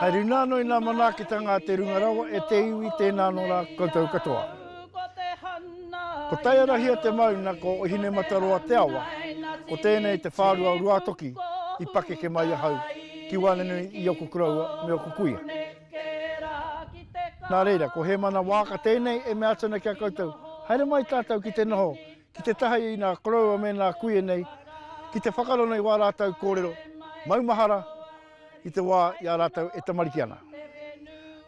Hai runa ano i nga manakitanga a te Runga Rawa e te iwi tena ano ra koutou katoa. Ko Taiarahia te mauna ko Ohinemataroa te awa, ko tenei te wharua o Ruatoki i pakeke mai ahau ki wanenui i oku koroua me oku kuia. Na reira ko Hemana Waaka tenei e mea atu ana ki a koutou, haere mai tatou ki te noho Ki te taha i nā koroua me nā kuia nei, ki te whakarona i wā rātou kōrero maumahara i te wā i a rātou e tamariki ana.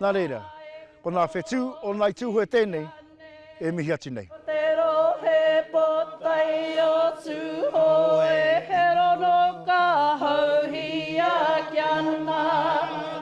Nā reira, ko nā whetū o Ngāi Tūhoe tēnei e mihi atu nei. Ko te rohe pōtae o Tūhoe, he rono ka houhia kia nā.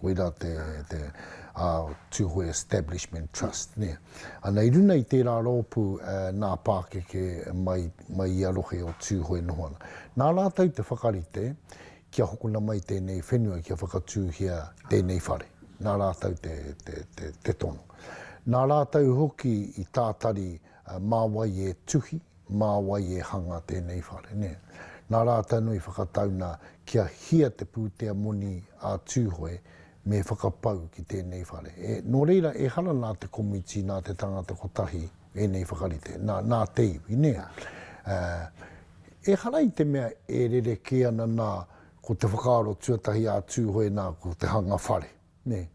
Koirā te, te uh, Tūhoe Establishment Trust. Ne? Ana, i runa i tērā rōpū uh, nā pākeke mai, mai i a rohe o Tūhoe noho ana. Nā rātou te whakarite kia hokona mai tēnei whenua kia whakatūhia tēnei whare. Nā rātou te, te, te, te tono. Nā rātou hoki i tātari uh, mā wai e tuhi, mā wai e hanga tēnei whare, nē. Nā Rātana i whakatau nā, kia hia te pūtea moni a Tūhoe me whakapau ki tēnei whare. E, nō reira, ehara nā te komiti, nā te tangata kotahi ēnei whakarite, nā, nā te iwi, nē. Ā, ehara i te mea e rerekē ana nā, ko te whakaaro tuatahi a Tūhoe nā, ko te hanga whare. Nē.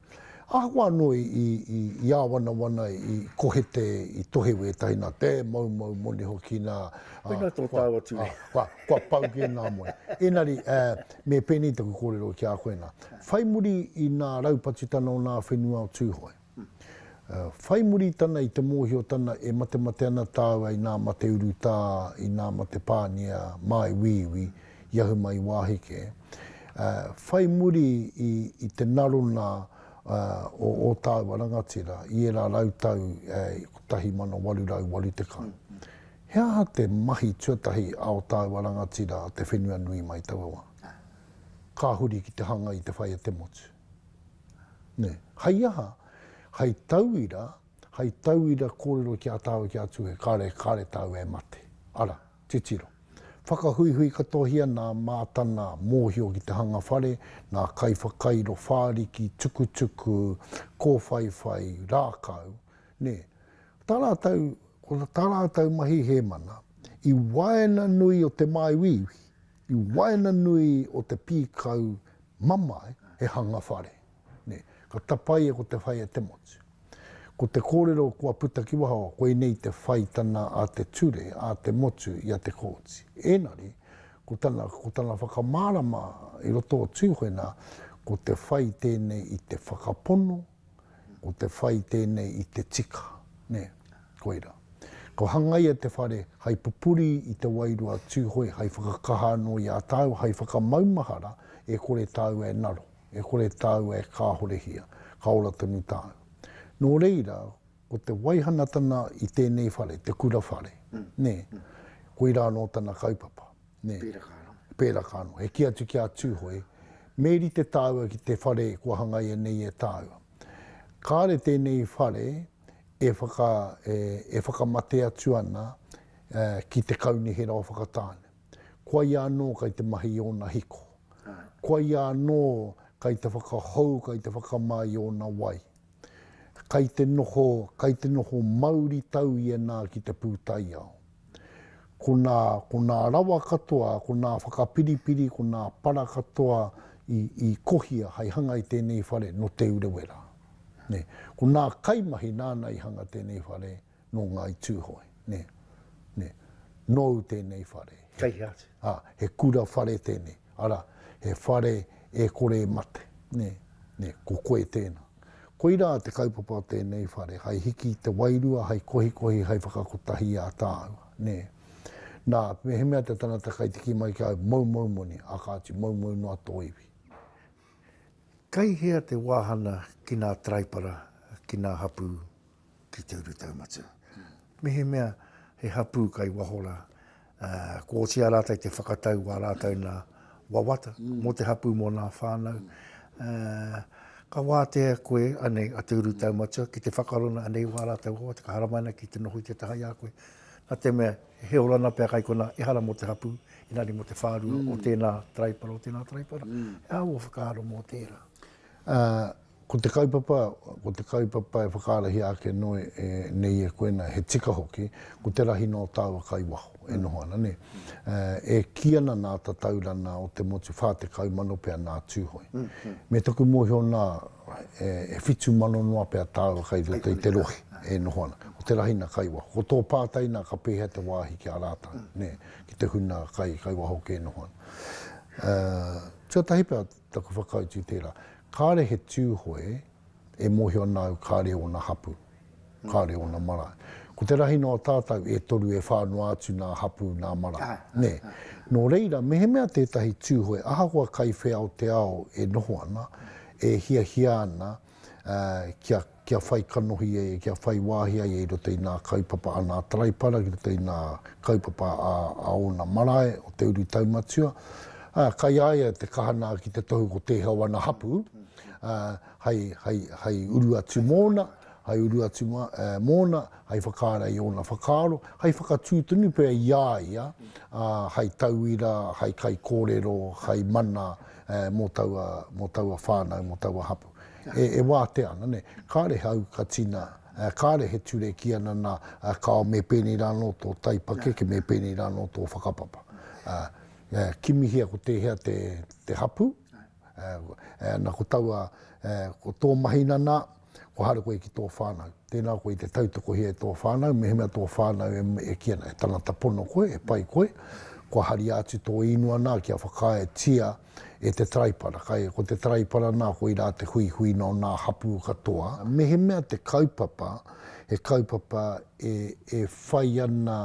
Ahakoa anō i āwanawana, i kohete, i tohe wētahi nā te moumou moni hoki, nā, ā, Koinā tō tāu atu e. Ā, kua pau kē ngā moni. Engari, ā, me pēnei taku kōrero ki a koe nā, whai muri i nā raupatu tana o nā whenua o Tūhoe, ā, whai muri tana i te mōhio tana e matemate ana tāua i nā mate urutā, i nā mate pānia māiuiui, i ahu mai i wāhi kē. Whai muri i te narona o ō tāua rangatira i ērā rau tau i 1880, he aha te mahi tuatahi a ō tāua rangatira a Te Whenua Nui mai taua wā? Ka huri ki te hanga i te whai a te motu. Nē. Hei aha? Hei tauira, hei tauira kōrero ki a tāua ki a Tūhoe, kāre, kāre tāua e mate. Arā. Titiro. Whakahuihui katohia nā Mātana mōhio ki te hanga whare, ngā kaiwhakairo whāriki, tukutuku, kōwhaiwhai, rākau, nē. Tā rātou, ko tā rātou mahi he mana, i waenganui o te māuiui, i waenganui o te pīkau mamae he hanga whare. Nē. Ka tapaia ko te whai a te motu. Ko te kōrero kua puta ki waho, koinei te whaitanga a te ture, a te motu i a Te Kooti. Ēngari, ko tana, ko tana whakamārama i roto o Tūhoe nā, ko te whai tēnei i te whakapono, ko te whai tēnei i te tika. Nē. Koirā. Ka hangaia te whare hai pupuri i te wairua a Tūhoe hai whakakaha anō i a tāua, hai whakamaumahara e kore tāua e ngaro. E kore tāua e kāhorehia, ka ora tonu tāua. Nō reira, ko te waihanatana i tēnei whare, te kura whare, nē, koirā anō tana kaupapa. Nē. Pēraka anō. Pēraka anō. E kī atu ki a Tūhoe, me rite tāua ki te whare kua hangaia nei e tāua. Kāre tēnei whare e, whaka, e, e whakamate atu ana e, ki te kaunihera o Whakatāne. Kua ia anō kei te mahi i ōna hiko. Kua ia anō kei te whakahou, kei te whakamā i ōna wai. Kei te noho, kei te noho mauritau ia nā ki te pūtaiao. Ko nā, ko nā rawa katoa, ko nā whakapiripiri, ko nā para katoa i, i kohia hei hanga i tēnei whare, nō Te Urewera. Nei. Ko nā kaimahi nāna i hanga tēnei whare, Nō Ngāi Tūhoe, nē, nē. Nōu tēnei whare. Kei hea atu? Ā, he kura whare tēnei, arā, he whare e kore e mate, nē, nē, ko koe tēnā. Koirā te kaupapa o tēnei whare, hai hiki i te wairua, hai kohikohi, hai whakakotahi i a tāua, nē. Nā, mehemea te tangata kai tiki mai ki a au, moumou moni, ā, kāti, moumou noa tō iwi. Kei hea te wāhana ki nā taraipara, ki nā hapū? ki te urutau matua. Mehemea he hapū kai waho rā, kua otia rātou te whakatau wā rātou nā wawata mm. mō te hapū mō nā whānau. Mm. Ka wātea koe anei a te uru tau matua ki te whakarona anei wā rātou hoa, te kaharamaina ki te noho i te taha i a koe. Nā te mea, he orana pia kai kona, e hara mō te hapū, i nari mō te whārua mm. o tēnā traipara, o tēnā traipara. Mm. E awo whakaaro mō tērā. Uh, Ko te kaupapa, ko te kaupapa e whakaarahia ake noa nei e koe nei, he tika hoki, ko te rahi nō tāua kai waho e noho ana, nē. E kī ana nā Tataurana o te motu 40,000 pea nā Tūhoe. Me taku mōhio nā, e whitu mano noa pea tāua kai roto i te rohe e noho ana. Ko te rahi nā kai waho. Ko tō pātai nā ka pēhea te wāhi ki a rātau, nē, ki te hunā kai waho kē e noho ana. Tuatahi pea, Taku whakautu tērā. Kāre he Tūhoe e mōhio ana au kāre ōna hapū, kāre ōna marae. Ko te rahi noa tātau e toru e whā noa atu nā hapū nā marae, nē. Nō reira, mehemea tētahi Tūhoe ahakoa kai whea o te ao e noho ana, e hiahia ana, kia, kia whai kanohi ai, kia whai wāhi ai i roto i nā kaupapa a nā Taraipara, ki roto i nā kaupapa a, a ōna marae, o te uru taumatua. Ā, kai a ia te kaha nā ki te tohu ko tēhea o ana hapū, ā, hei, hei, hei uru atu mōna, hei uru atu mā, e, mōna, hei whakaara i ōna whakaaro, hei whakatū tonu pea i a ia, ā, hei tauira, hei kaikōrero, hei mana, mō taua, mō taua whānau, mō taua hapū. E, e wātea ana, nē. Kāre he aukatina, kāre he ture ki ana nā, kāo me pēnei rā anō tō taipakeke, me pēnei rā anō tō whakapapa. Kimihia ko tēhea te, te hapū, ana ko taua, ko tō mahi nanā, kua haere koe ki tō whānau. Tēnā koe i te tautokohia e tō whānau, mehemea tō whānau e, e kī ana, he tangata pono koe, he pai koe, kua haria atu tō īnua nā kia whakaaetia e te taraipara. Kai, ko te taraipara nā koirā te huihui nō nā hapū katoa. Mehemea te kaupapa, he kaupapa e, e whai ana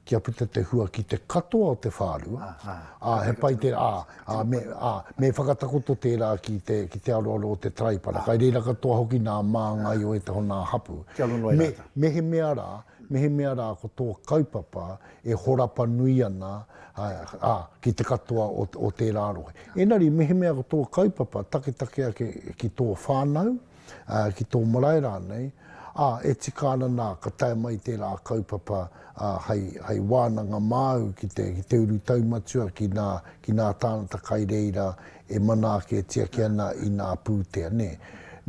kia puta te hua ki te katoa o te whārua, ā, he pai te, ā, ā, me, ā, me whakatakoto tērā ki te, ki te aroaro o te Taraipara, kai reira katoa hoki nā māngai o ētahi o nā hapū. Kia rongo e rātou. Me, mehemea rā, mehemea rā ko tō kaupapa e horapa nui ana, ā, ā, ki te katoa o, o tērā rohe. Engari mehemea ko tō kaupapa taketake ake ki tō whānau, ki tō marae rānei, ā, e tika ana nā, ka tae mai tērā kaupapa hei wānanga māu ki te urutau matua ki nā, ki nā tāngata kai reira e manaaketia ki ana i nā pūtea, nē.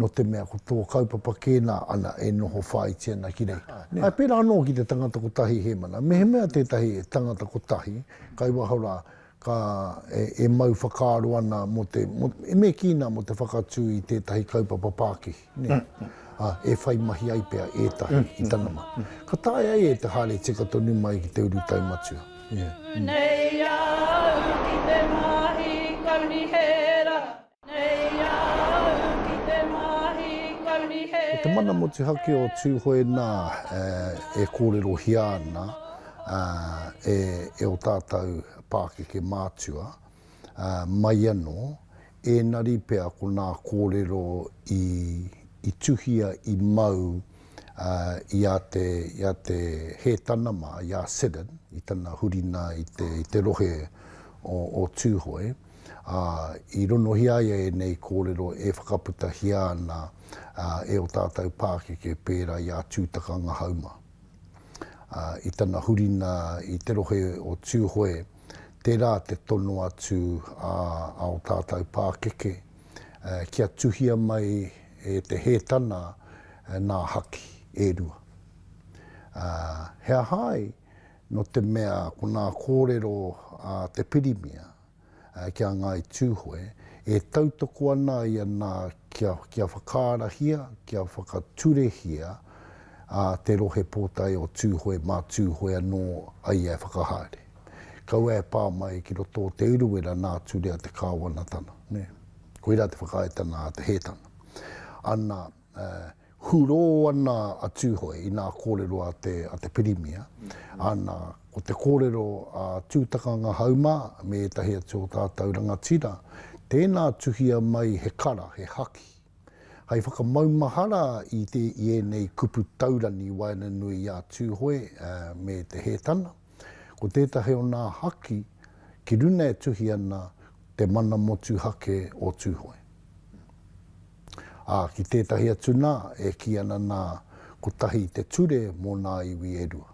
Nō te mea ko tō kaupapa kē nā, ana, e noho whāiti ana ki reira. Ā, pērā anō ki te tangata kotahi hēmana, mehemea tētahi tangata kotahi, kai waho rā, ka, e, e mau whakaaro ana mō te, mō, e me kī nā, mō te whakatū i tētahi kaupapa pākihi, nē, ā, e whai mahi ai pea ētahi i tana mahi. Ka taea ai e te haere tika tonu mai ki te urutau matua. Ā, ā. Nei au ki te mahi kauri he. Ko te mana motuhake o Tūhoe nā e kōrerohia ana e ō tātou pākeke mātua, mai anō, ēnari pea ko nā kōrero i tuhia, i mau i a te, i a te Hētana mā, i a Siddon, i tana hurina i te rohe o Tūhoe. ā, i ronohia ai ēnei kōrero e whakaputahia ana e ō tātou pākeke pērā i a Tūtaka Ngahauma. Ā, i tana hurina i te rohe o Tūhoe, tērā te tono atu ā, a ō tātou pākeke, ā, kia tuhia mai e Te Hētana nā haki e rua. Ā, he aha ai, nō te mea ko ngā kōrero a te pirimia ki a Ngāi Tūhoe e tautoko ana ia nā kia, kia whakaarahia, kia whakaturehia te Rohe Pōtae o Tūhoe mā Tūhoe anō a ia e whakahaere. Kaua e pā mai ki roto o Te Urewera nā Turea te kāwanatanga, nē. Koirā te whakaaetanga a Te Hētana. Ana. hurō ana a Tūhoe i nā kōrero a te, a te Pirimia, ana, ko te kōrero a Tūtakanga Haumā me ētahi atu o tātou rangatira, tēnā tuhia mai he kara, he haki, hai whakamaumahara i te, i ēnei kupu taurangi waenganui i a Tūhoe me Te Hētana. Ko tētahi o nā haki ki runa e tuhi ana te mana motuhake o Tūhoe. Ā, ki tētahi atu nā, e kī ana nā, kotahi te ture mō nā iwi e rua.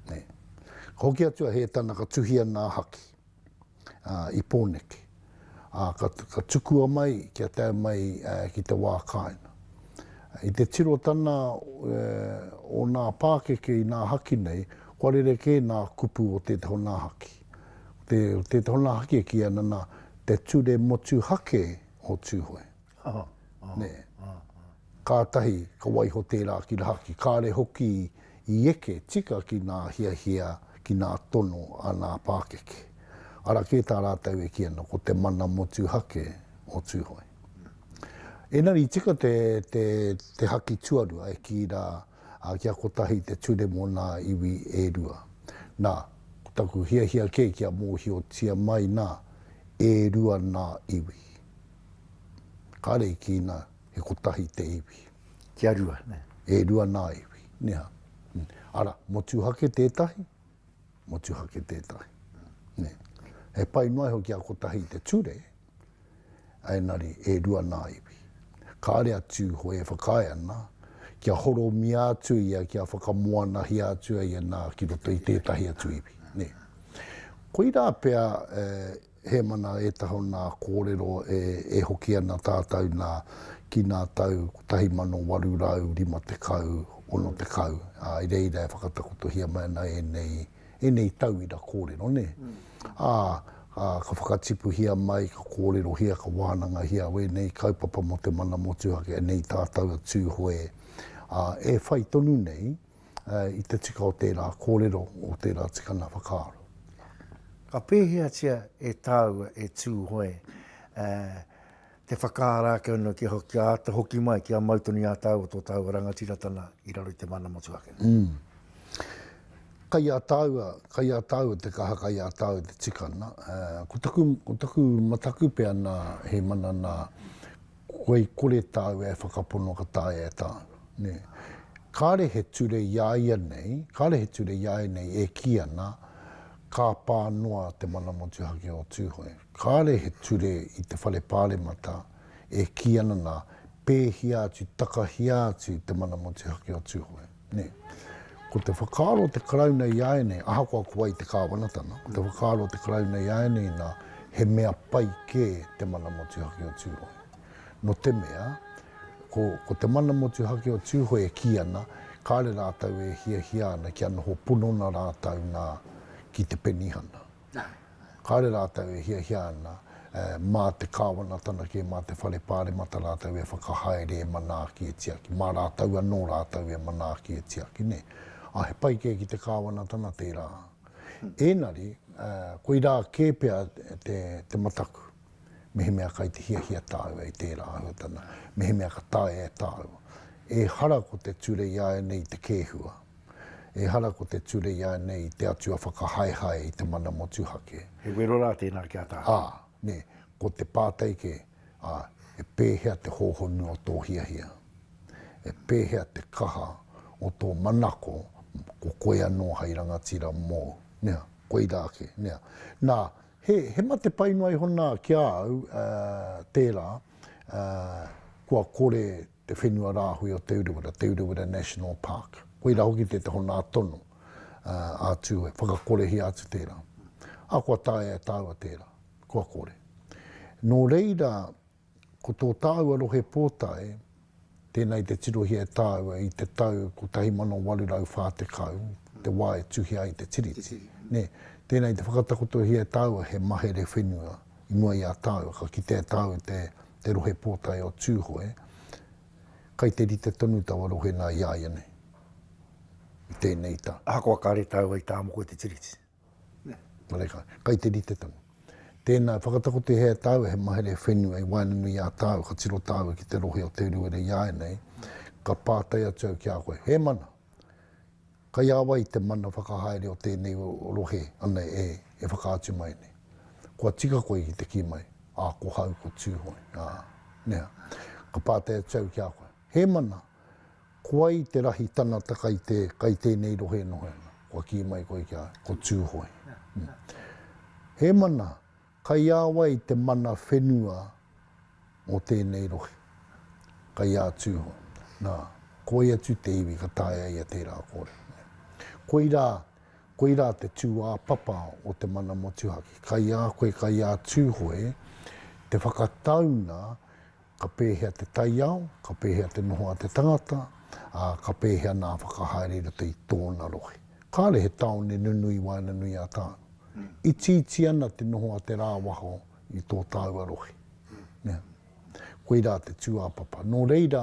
Nē. Ka hoki atu a Hētana ka tuhia nā haki. i Pōneke, ā, ka tukua mai kia tae mai ki te wā kāinga. I te tiro tana o nā pākeke i nā haki nei, kua rerekē nā kupu o tētahi o nā haki. Ko tētahi o nā haki e kīia ana nā Te Ture Motuhake o Tūhoe. Aha, aha, aha. Kātahi ka waiho tērā ki rahaki, kāre hoki i eke tika ki ngā hiahia, ki ngā tono a ngā pākeke. Ara kē tā rātou e kī ana, ko te mana motuhake o Tūhoe. Engari i tika te, te, te haki tuarua e kī rā, ā, kia kotahi te ture mō ngā iwi e rua. Nā, ko taku hiahia kē kia mōhiotia mai nā, e rua ngā iwi. Kāre i kīna, He kotahi te iwi. Kia rua, nē. E rua nā iwi, nihā. Arā, motuhake tētahi, motuhake tētahi, nē. He pai noa iho kia kotahi te ture, ēnari, e rua nā iwi. Kāre a Tūhoe e whakaae ana, kia horomia atu ia, kia whakamoanahia atu ia nā ki roto i tētahi atu iwi, nē. Koirā pea e. Hēmana ētahi o nā kōrero e hoki ana tātou nā ki nā tau 1850, 60, ā, i reira e whakatakotohia mai ana ēnei, ēnei tauira kōrero, nē? Ā, ka whakatipuhia mai, ka kōrerohia, ka wānangahia wēnei kaupapa mō te mana motuhake nei tātou a Tūhoe, ā, e whai tonu nei, i te tika o tērā kōrero, o tērā tikanga whakaaro. Ka pēheatia e tāua e Tūhoe te whakaara ake anō kia āta hoki mai, kia mau tonu i a tāua tō tāua rangatiratanga i raro i te mana motuhake? Kai a tāua, kai a tāua te kaha, kai a tāua te tikanga. Ko taku mataku pea nā, he mana nā, Kua i kore tāua e whakapono ka taea e tāua, nē. Kāre he ture i a ia nei, kāre he ture i a ia nei e kī ana, Ka pā noa te mana motuhake o Tūhoe. Kāre he ture i te Whare Pāremata e kī ana nā, pēhia atu, takahia atu te mana motuhake o Tūhoe. Nē. Ko te whakaaro o te Karauna i a ēnei, ahakoa ko wai te Kāwanatanga, ko te whakaaro o te Karauna i a ēnei nā, he mea pai kē te mana motuhake o Tūhoe. Nō te mea, ko, ko te mana motuhake o Tūhoe e kī ana, kāre rātou e hiahia ana kia noho ponona rātou nā, ki te penihana. Kāore rātou e hiahia ana, mā te Kāwanatanga kē, mā te Whare Pāremata rātou e whakahaere, e manaaki, e tiaki. Mā rātou anō rātou e manaaki, e tiaki, nē. Ā, he pai kē ki te Kāwanatanga tērā. Ēngari, koirā kē pea te mataku, mehemea kai te hiahia tāua i tērā āhuatanga, mehemea ka taea e tāua. Ehara ko te ture i āianei i te kēhua. Ehara ko te ture ianei i te Atua whakahaehae i te mana motuhake. He wero rā tēnā ki a tātou. Ā, nē, ko te pātai kē, ā, e pēhea te hōhonu o tō hiahia? E pēhea te kaha o tō manako ko koe anō hai rangatira mōu? Nea, koirā kē, nea. Nā, he, he mate pai noa iho nā ki a au, ā, tērā, ā, kua kore te whenua rāhui o Te Urewera, Te Urewera National Park. Koirā hoki te honā tonu a Tūhoe, whakakorehia atu tērā. Ā, kua taea e tāua tērā, kua kore. Nō reira, ko tō tāua rohe pōtae, tēnā i te tirohia e tāua i te tau 1840, te wā e tuhia ai te Tiriti. Nē, tēnā i te whakatakotohia e tāua he mahere whenua i mua i a tāua, ka kitea e tāua te te Rohe Pōtae o Tūhoe, kai te rite tonu taua rohe nā iāianei, i tēnei tau. Ahakoa kāre tāua i tā moko i te Tiriti. Nōreikā, kai te rite tonu. Tēnā, whakatakotehea e tāua he mahere whenua i waenganui i a tāua, ka tiro tāua ki te rohe o Te Urewera iāianei, ka pātai atu au ki a koe, he mana, Kai a wai te mana whakahaere o tēnei rohe ana e whakaatu mai nei? Kua tika koe ki te kī mai, ā, ko hau ko Tūhoe, ā, nea, ka pātai atu au ki a koe, he mana, ko wai te rahi tanata kai te, kai tēnei rohe e noho ana? Kua kī mai koe ki a au, ko Tūhoe. He mana, Kaiāwai te mana whenua mō tēnei rohe? Kaiā Tūhoe. Nā, ko ia atu te iwi ka taea ai ia tērā kōrero. Koirā, koirā te tūāpapa o te mana motuhake. Kaiā koe, kaiā Tūhoe, te whakataunga Ka pēhea te taiao, ka pēhea te noho a te tangata, ā, ka pēhea nā whakahaere i roto i tōna rohe. Kāre he tāone nunui waenganui a tāu. Itiiti ana te noho a te rāwaho i tō tāua rohe. Koirā te tūāpapa. Nō reira,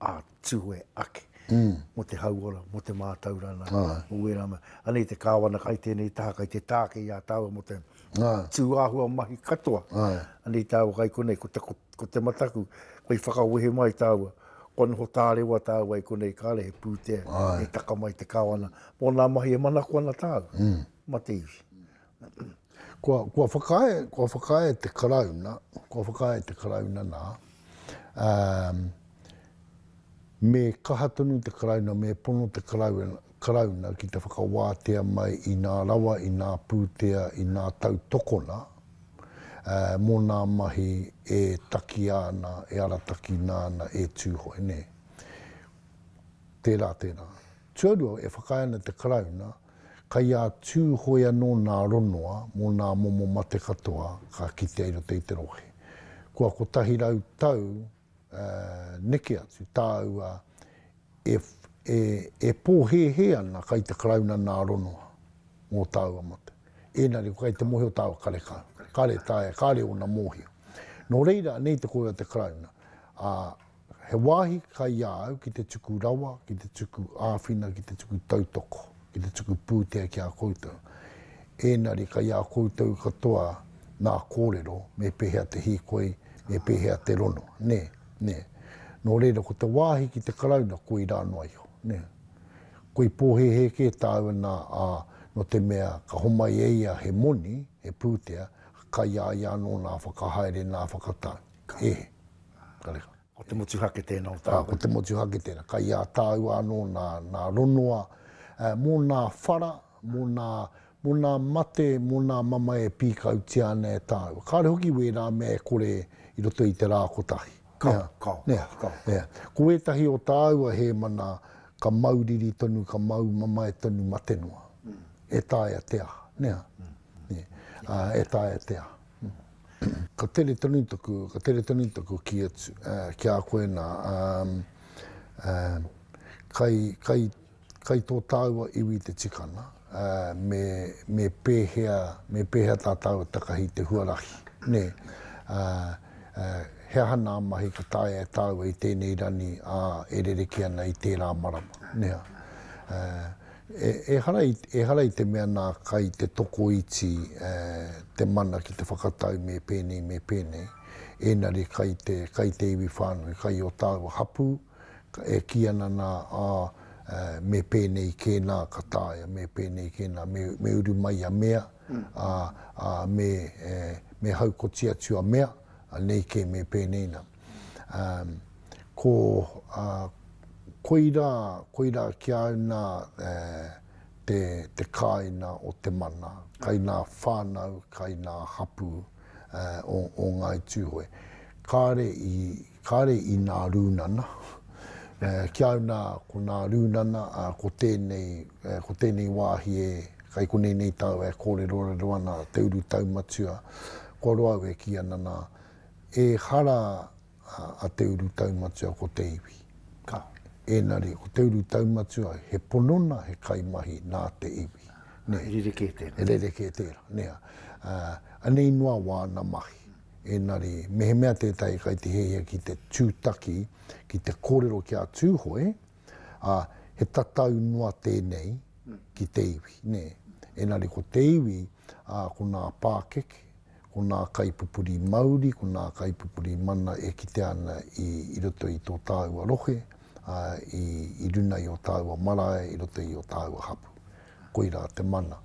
a Tue ake, mo te hauora, mo te mātaurana, mo wērā mea. Anei te Kāwana kai tēnei taha, kai te tāke i a tāua mo te tūāhua mahi katoa. Anei tāua kai konei, ko te mataku, kai whakawehe mai tāua, kua noho tārewa tāua i konei kāre he pūtea, e taka mai te Kāwana, mo nā mahi e manako ana tāua, ma te iwi. Kua, kua whakaae, kua whakaae te Karauna, kua whakaae te Karauna nā, ā, me kaha tonu te Karauna, me pono te Karauna, Karauna ki te whakawātea mai i nā rawa, i nā pūtea, i nā tautokona, ā, mō nā mahi e takia ana, e aratakina ana e Tūhoe, nē. Tērā, tērā. Tuarua, e whakaae ana te Karauna, Kai a Tūhoe anō nā Ronoa mō nā momo mate katoa ka kitea i roto i te rohe. Kua kotahi rau tau neke atu tāua e e pōhēhē ana kai te Karauna nā Ronoa mō tāua mate. Ēnari ko kai te mohi o tāua karekau, kāre taea, kāre ōna mōhio. Nō reira anei te kōrero a te Karauna, ā, He wāhi kai a au ki te tuku rawa, ki te tuku āwhina, ki te tuku tautoko, ki te tuku pūtea ki a koutou. Ēnari kai a koutou katoa nā kōrero me pēhea te hīkoi, me pēhea te rono, nē, nē. Nō reira ko te wāhi ki te Karauna koirā noa iho, nē. Koi pōhēhē kē tāu ana, ā, nō te mea ka homai e ia he moni, he pūtea, kai a ia anō nā whakahaere, nā whakatau. He. Kare. Ko te motuhake tēnā o tāua. Ā, ko te motuhake tēnā. Kai a tāua anō nā, nā Ronoa, ā, mō nā whara, mō nā, mō nā mate, mō nā mamae e pīkautia ana e tāua. Kāore hoki wērā mea e kore i roto i te rā kotahi. Kao, kao, kao, kao. Ko wētahi o tāua hēmana ka mau riri tonu, ka mau mamae tonu mate noa. E taea te aha, nē? Ā, e taea te aha. Ka tere tonu taku, ka tere tonu taku kī atu ki a koe nā, kai, kai, kai tō tāua iwi te tikanga, me, me pēhea, me pēhea tā tāua takahi te huarahi, nē? He aha nā mahi ka taea e tāua i tēnei rani ā e rerekē ana i tērā marama, nē? Ehara i te mea nā kai te tokoiti te mana ki te whakatau me pēnei me pēnei, ēnari kai te kai te iwi whānui, kai o tāua hapū, e kī ana nā, ā, me pēnei kē nā ka taea, me pēnei kē nā, me uru mai a mea, ā, me haukoti atu a mea, nei kē me pēnei nā. Um, ko, uh, koira, koira ki a au nā uh, te, te kāina o te mana, kai nā whānau, kai nā hapū uh, o, o Ngāi Tūhoe. Kāre i, kāre i nā rūnana, uh, ki a au nā, ko nā rūnana, uh, ko tēnei, uh, ko tēnei wāhi e, kai konei nei tāu e kōrerorero ana te urutau matua, kua roa au e kī ana nā, Ehara a Te Uru Taumatua ko te iwi. Ka. Engari, ko Te Uru Taumatua, he ponona, he kaimahi nā te iwi. Nē. He rerekē tērā. He rerekē tērā, nē. Anei noa wāna mahi. Engari, mehemea tētahi kai te hiahia ki te tūtaki, ki te kōrero ki a Tūhoe, ā, he tatau noa tēnei ki te iwi, nē. Engari ko te iwi, ā, ko nā pākeke, ko nā kaipupuri mauri, ko nā kaipupuri mana e kitea ana i roto i tō tāua rohe, ā, i runa i ō tāua marae, i roto i ō tāua hapū. Koirā te mana.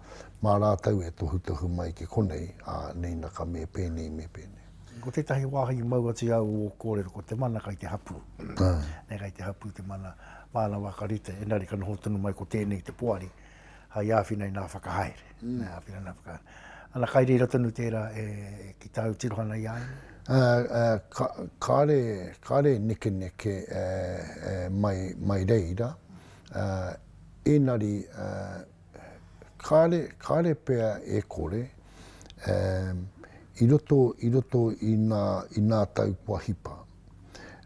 Mā rātou e tohutohu mai ki konei, ā, nēnā ka me pēnei, me pēnei. Ko tētahi wāhi i mau atu i au o ō kōrero, ko te mana kai te hapū. Kai te hapū te mana, māna wā ka rite, engari ka noho tonu mai ko tēnei te poari. hai āwhina i nā whakahaere. Mm. Nā, āwhina nā whakahaere. Ana kai reira tonu tērā e, e ki tāu tirohana i ai? Uh, uh, ka, kāre, kāre nekeneke uh, uh, mai, mai reira. Uh, ēnari, uh, kāre, kāre pea e kore, uh, i roto, i roto i nā, i nā tau kua hipa,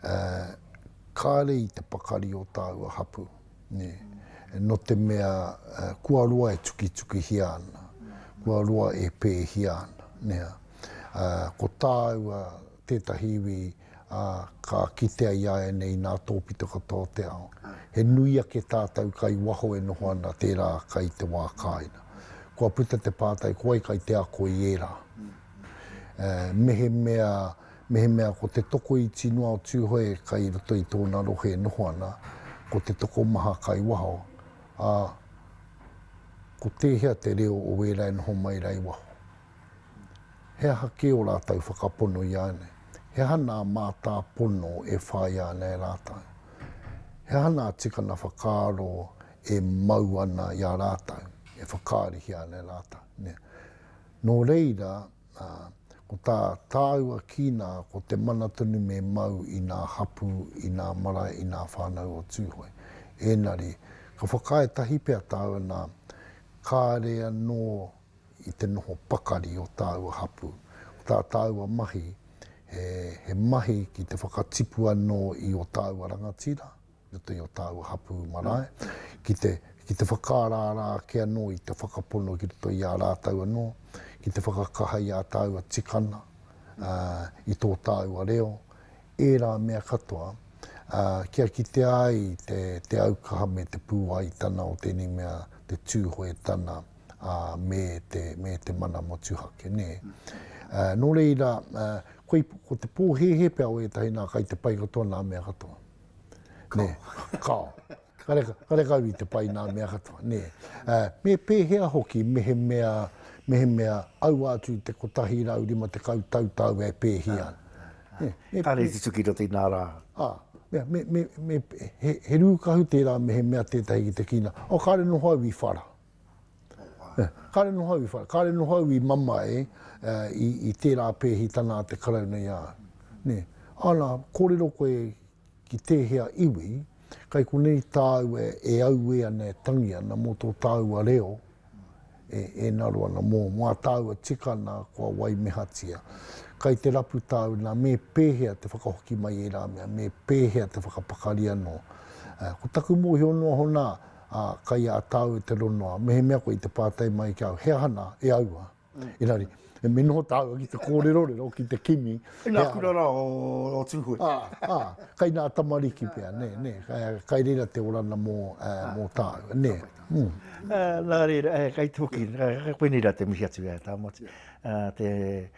uh, kāre i te pakari o tāua hapu. Nē. Nō te mea kua roa e tukitukihia ana, kua roa e pēhia ana, nē. Ko tāua tētahi iwi ka kitea i a ianei nā tōpito katoa o te ao. He nui ake tātou kai waho e noho ana tērā kai te wā kāina. Kua puta te pātai, ko wai kai te ako i ērā? Mehemea Mehemea ko te tokoiti noa o Tūhoe kai roto i tōna rohe e noho ana, ko te tokomaha kai waho, ā, ko tēhea te reo o ērā e noho mai rā i waho? He aha kē ō rātou whakapono i a ēnei? He aha nā mātāpono e whāia ana e rātou? He aha nā tikanga whakaaro e mau ana i a rātou, e whakaarihia ana e rātou? Nō reira, Ā, ko tā tāua kīnā ko te mana tonu me mau i ngā hapū, i ngā marae, i ngā whānau o Tūhoe. Ēngari, ka whakaae tahi pea tāua nā, kāre anō i te noho pakari o tāua hapū. Ko tā tāua mahi, he, he mahi ki te whakatipu anō i ō tāua rangatira, i roto i ō tāua hapū marae, ki te, ki te whakaaraara ake anō i te whakapono ki roto i a rātou anō, ki te whakakaha i ā tāua tikanga, ā, i tō tāua reo, ērā mea katoa, ā, kia kitea ai te, te aukaha me te pūaitanga o tēnei mea, te Tūhoetanga, ā, me te, me te mana motuhake, nē. Ā, nō reira, ā, koi, ko te pōhēhē pea o ētahi nā kai te pai katoa nā mea katoa. Kao. Kao. Karekau i te pai nā mea katoa, nē. Me pēhea hoki mehemea, mehemea aua atu i te 150 tau tāua e pēhia ana. Ka reti tuki roti nā rā. Ā, mea, me, me, me, he, he rūkahu tērā mehemea tētahi ki te kīnā. Oh, kāre noho au i whara. Kāre noho au i whare, kāre noho au i mamae i tērā pēhitanga a te Karauna i a au. Ana, kōrero koe ki tēhea iwi, kai konei tāu e auē ana, e tangi ana mō tō tāua reo e ngaro ana, mō ngā tāua tikanga kua waimehatia. Kai te rapu tāu nā, me pēhea te whakahoki mai i ērā mea, me pēhea te whakapakari anō. Ko taku mōhio noa hono, ā, kai a tāu e te ronoa, mehemea koe i te pātai mai ki au, he aha nā, e aua? Engari, me noho tāua ki te kōrerorero, ki te kimi, he aha? Ina kura rā o Tūhoe. Ā, ā, kai nā tamariki pea, nē, nē, kai reira te orana mō, ā, mō tāu, nē. Nā reira, kai te hoki, koinei rā te mihi atu, ā, Tāmati, ā, te.